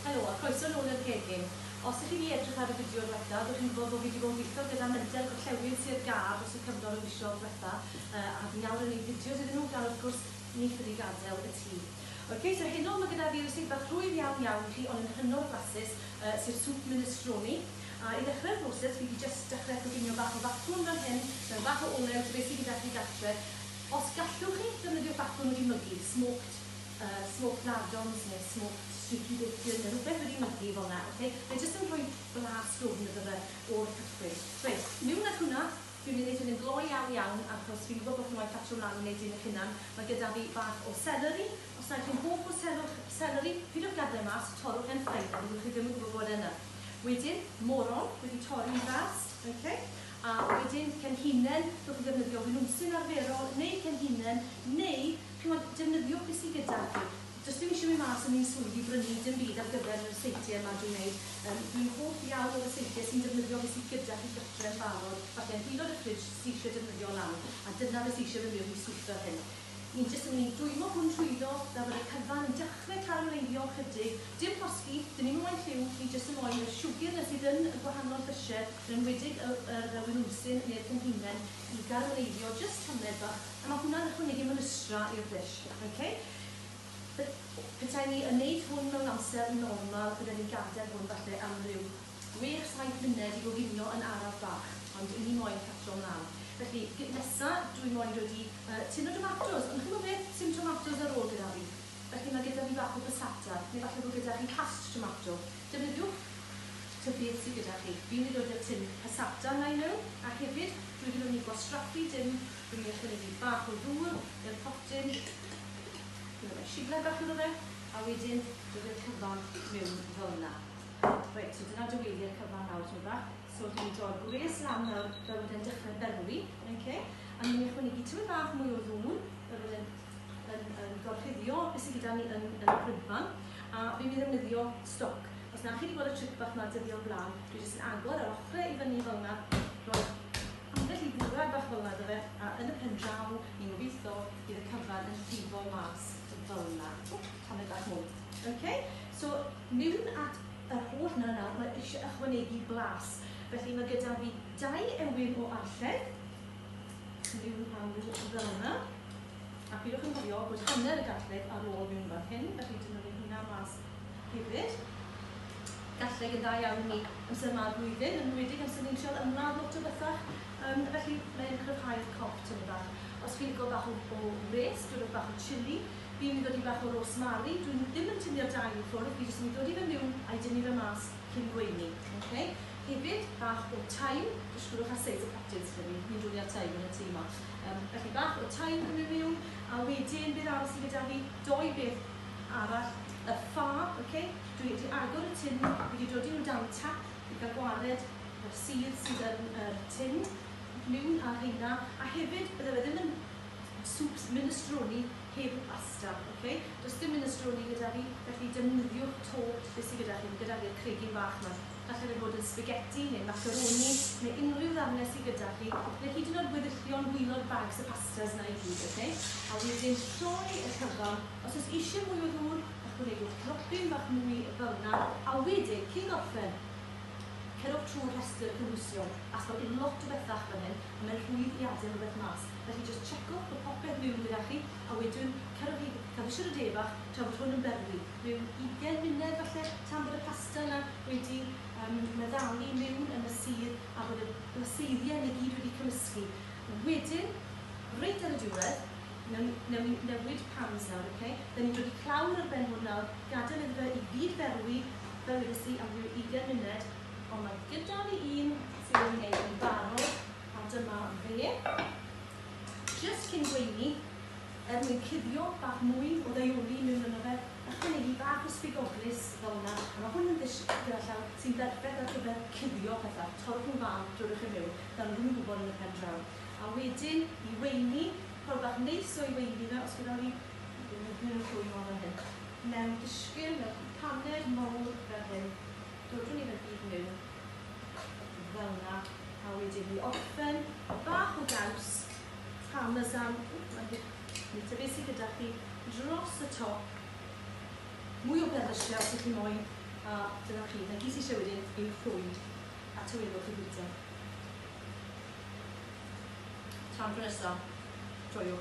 Helo, a croeso nôl i'r gegin. Os dych chi wedi edrych ar y fideo dwetha, dych chi'n gwybod bod fi wedi bod yn gweithio gyda Menter Gorllewin Sir Gâr dros y cyfnod o fisoedd dwetha, a fi nawr yn wneud fideos iddyn nhw, gan wrth gwrs, ni ffili gadael y tŷ. Ok, so heno ma' gyda fi recipe bach rhwydd iawn iawn i chi, ond yn hynod o flasus, sef Soup Minestrone. A i ddechrau'r broses, fi 'di jyst dechrau coginio bach o fatwn fan hyn, mewn bach o olew, tes i gyda chi gartre, Os gallwch chi, defnyddiwch bacwn wedi mygu, smoked yy smoked lardons neu smoked streaky bacon neu rhywbeth wedi mygu fel 'na, ok? Mae jyst yn rhoi blas dwfn iddo fe o'r cychwyn. Reit, miwn â hwnna. Dwi'n mynd i wneud hwn yn gloi iawn iawn achos fi'n gwybod bod chi moyn ffatio mlaen i wneud un eich hunan. Mae gyda fi bach o seleri. Os nad chi'n hoff o selwch- seleri, peidiwch gadael e mas, torrwch e'n ffain a fyddwch chi ddim yn gwybod bod e yna. Wedyn, moron wedi torri'n fras, ok? A wedyn Frenhinen, rhowch chi ddefnyddio winwnsyn arferol neu frenhinen neu ch'mod defnyddio be sy gyda chi. Does dim isie mynd mas yn un swydd i brynu dim byd ar gyfer yr seitie yma dwi'n neud. Yym dwi'n hoff iawn o'r y seitie sy'n defnyddio be sy gyda chi gytre yn barod, falle hilo 'da ffridge sy isie defnyddio lan a dyna be sy isie mynd mewn i swper hyn. Ni jyst yn mynd i dwymo hwn trwyddo fel bod y cyfan yn dechre carameleiddio'n chydig, dim llosgi, dim un waith lliw, ni jyst yn moyn yr siwgr 'na sydd yn y gwahanol llysie, yn enwedig y yr yy winwmsyn neu'r cynhunen, i garameleiddio jyst tammed bach, a ma' hwnna'n ychwanegu mynystra i'r ddish. Ok? Pe- petai ni yn neud hwn mewn amser normal bydden ni'n gadel hwn falle am ryw Gwych, saith muned i goginio yn araf bach, ond wi moyn catro mlan. Felly, gig nesa, dwi moyn dod i yy tin o domatos, ond ch'mod beth, sim tomatos ar ôl gyda fi. Felly ma' gyda fi bach o passata, neu falle bo' gyda chi cast tomato. Defnyddiwch ta beth sy gyda chi. Fi myn' i ddod da tin passata na i mewn, a hefyd, dwi wedi myn' i gwastraffu dim, dwi myn' i ychwanegu bach o ddŵr i'r potyn, ch'mod, roi shibled bach iddo fe, a wedyn dod a'r cyfan mewn felna. Reit, so dyna dwy eiliad cyfan nawr, rhywbeth. So rydyn ni'n droi'r gwres lawr nawr, fel bod e'n dechrau berwi, okay? a ni'n ychwanegu tywydd bach mwy o ddŵn, fel bod e'n yn, yn gorchuddio beth sydd gyda ni yn, yn y prydfan, a fi'n mynd i ddefnyddio stoc. Os na chi wedi gweld y tric bach yma dyddiol blaen, dwi jyst yn agor yr ochrau i fyny fel yna, rhoi ambell i ddwrnod bach fel yna dy fe, a yn y pen draw, ni'n gobeithio bydd y cyfan yn llifo mas fel yna. Tamed bach mwy. Okay? So, mewn at yr holl 'na nawr, mae eisiau ychwanegu blas. Felly, mae gyda fi dau ewyn o arllen, mewn awr fel yna. A pidwch yn cofio bod hanner y garlleg ar ôl mewn fan hyn, felly dyma ni hwnna mas hefyd. Garlleg yn dda iawn i ni amser yma o'r flwyddyn, yn enwedig amser ni'n trial ymladd lot o bethau, um, felly mae'n cryfhau'r cop tymed bach. Os chi'n licio bach o, o wres, dwrwch bach o chili, Fi yn mynd i ddodi bach o rosemary, dwi ddim yn tynnu'r dail i ffwrdd, fi jyst yn mynd i ddodi fe miwn a'i dynnu fe mas cyn gweini. Ok? Hefyd, bach o thyme, jyst chwiliwch ar seis y potyn sy 'da fi, ni'n dwli ar thyme yn y tŷ 'ma. Yym, felly bach o thyme yn mynd miwn, a wedyn beth arall sy gyda fi, dou beth arall, y ffa, ok? Dwi wedi agor y tin, fi wedi dodi nhw dan tap i gael gwared yr sudd sydd yn yr tin, miwn â rheina, a hefyd bydde fe ddim yn Soups, minestrone heb y pasta, oce? Does dim minestrone gyda fi, felly defnyddiwch to beth sydd gyda chi. Fi gyda fi'r cregyn bach 'ma. Gallai fe fod yn spaghetti neu macaroni neu unrhyw ddarnau sydd gyda chi, neu hyd yn oed weddillion waelod bags y pastas 'na i gyd, oce? A wedyn troi y cyfan, os oes eisiau mwy o ddŵr, ychwanegwch dropyn bach mwy fel 'na, a wedyn, cyn gorffen, cerwch trwy'r rhestr cynhwysion, achos mae lot o bethau allan fan hyn, a mae'n rhwydd i adael rhywbeth mas. Felly jyst checwch bod popeth miwn gyda chi a wedwn cerwch i Caffi Siwr y De Bach tra fod hwn yn berwi mewn ugen munud falle tan bod y pasta yna wedi yym meddalu miwn yn y sudd a bod y blaseiddiau yna i gyd wedi cymysgu. Wedyn, reit ar y diwedd, newn ni newn ni newid pans nawr ok? Dan ni'n dod i clawr ar ben hwn nawr, gadael iddo fe i gyd ferwi fel wedes i am ryw ugen munud ond mae gyda ni un sydd wedi neud yn barod A dyma fe. Jyst cyn gweini, er mwyn cuddio bach mwy o ddaioli mewn yno fe, ychwanegu bach o sbigoglys fel yna, a mae hwn yn ddish gyda llaw sy'n berffaith ar gyfer cuddio pethau, torrwch nhw fân, drwrwch e mewn, ddawn nhw ddim yn gwybod yn y pen draw. A wedyn i weini, ffordd bach neis o'i weini fe, os gadewch i fi ddwyn y llwy mor fel hyn, mewn dishgyn, mewn cwpaned mowr fel hyn, dodwn ni fe gyd mewn, Fel 'na. A wedyn i orffen, bach o gaws, parmesan, ww ma'n ddrud, neu ta be' sy gyda chi, dros y top. Mwy o berlysie os 'ych chi moyn, a dyna chi. 'Na gyd sy isie wedyn yw rhwyd a tawelwch i fwyta. Tan tro nesa, joio.